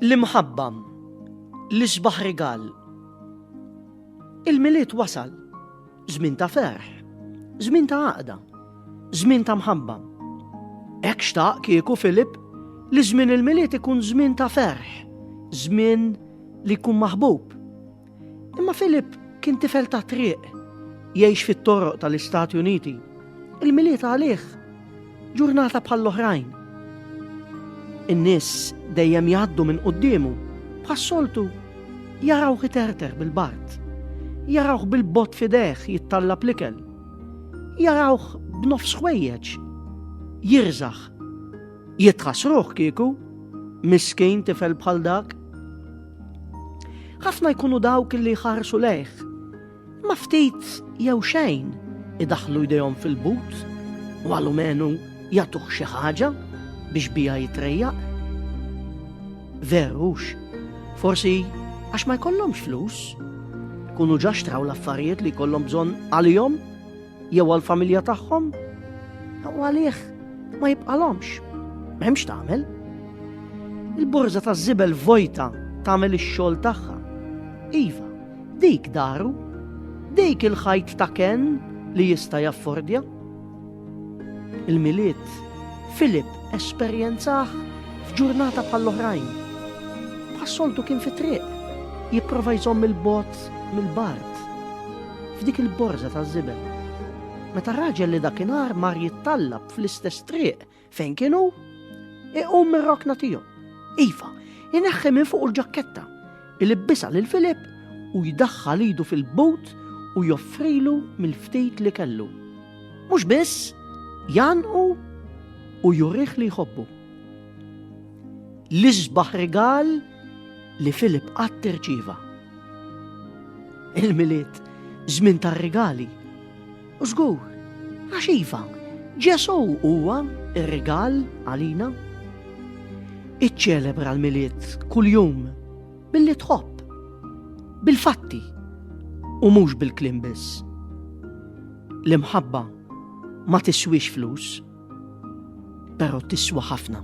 L-imħabba li xbaħ rigal. Il-milied wasal, żmien ta' ferħ, żmien ta' għaqda, żmien ta' mħabba. Hekk xtaq kieku Filip li żmien il-milied ikun żmien ta' ferħ, żmien li jkun maħbub, Imma Philip kien tifel ta' triq, jgħix fit-toroq tal-Istati Uniti. Il-miliet għalih ġurnata bħall-oħrajn. In-nies dejjem jgħaddu minn quddiemu, bħas-soltu jarawh iterter bil-bart, jarawh bil-bot fideħ jittalla plikel, jarawh b'nofs ħwejjeġ, jirżaħ, jitħasruh kieku, miskin tifel bħal dak. Ħafna jkunu dawk li jħarsu lejh. Ma ftit jew xejn idaħlu jdejhom fil-but u għalumenu jagħtuh xi ħaġa biex bija jitrejjaq. Verux, forsi għax ma jkollhomx flus, kunu ġaxtraw l-affarijiet li jkollhom bżonn għalihom jew għall-familja tagħhom, u għalih ma jibqalhomx. M'hemmx tagħmel. Il-borża ta' żibel vojta tagħmel ix-xogħol tagħha. Iva, dik daru, dik il-ħajt ta' ken li jista' jaffordja. Il-miliet Filip esperjenzaħ f'ġurnata bħall-oħrajn. Passoltu kien fi triq, jipprova jżomm il-bot mill-bart f'dik il-borża taż-żibel. Meta raġel li dakinhar mar jittallab fl-istess triq fejn kien hu, iqum mir-rokna tiegħu. Iva, ineħħi minn fuq il-ġakketta, il-ibbisa lil Filip u jdaħħal idu fil-but u joffrilu mill-ftit li kellu. Mhux biss, janqu u jurih li jħobbu. L-isbaħ rigal li Filip qatt irċieva. Il-milied żmien tar-rigali. U żgur, għax iva, Ġesu huwa r-rigal għalina. Iċċelebra l-milied kuljum billi tħobb, bil-fatti u mhux bil-klim biss. L-imħabba ma tiswix flus. Pero tiswa ħafna.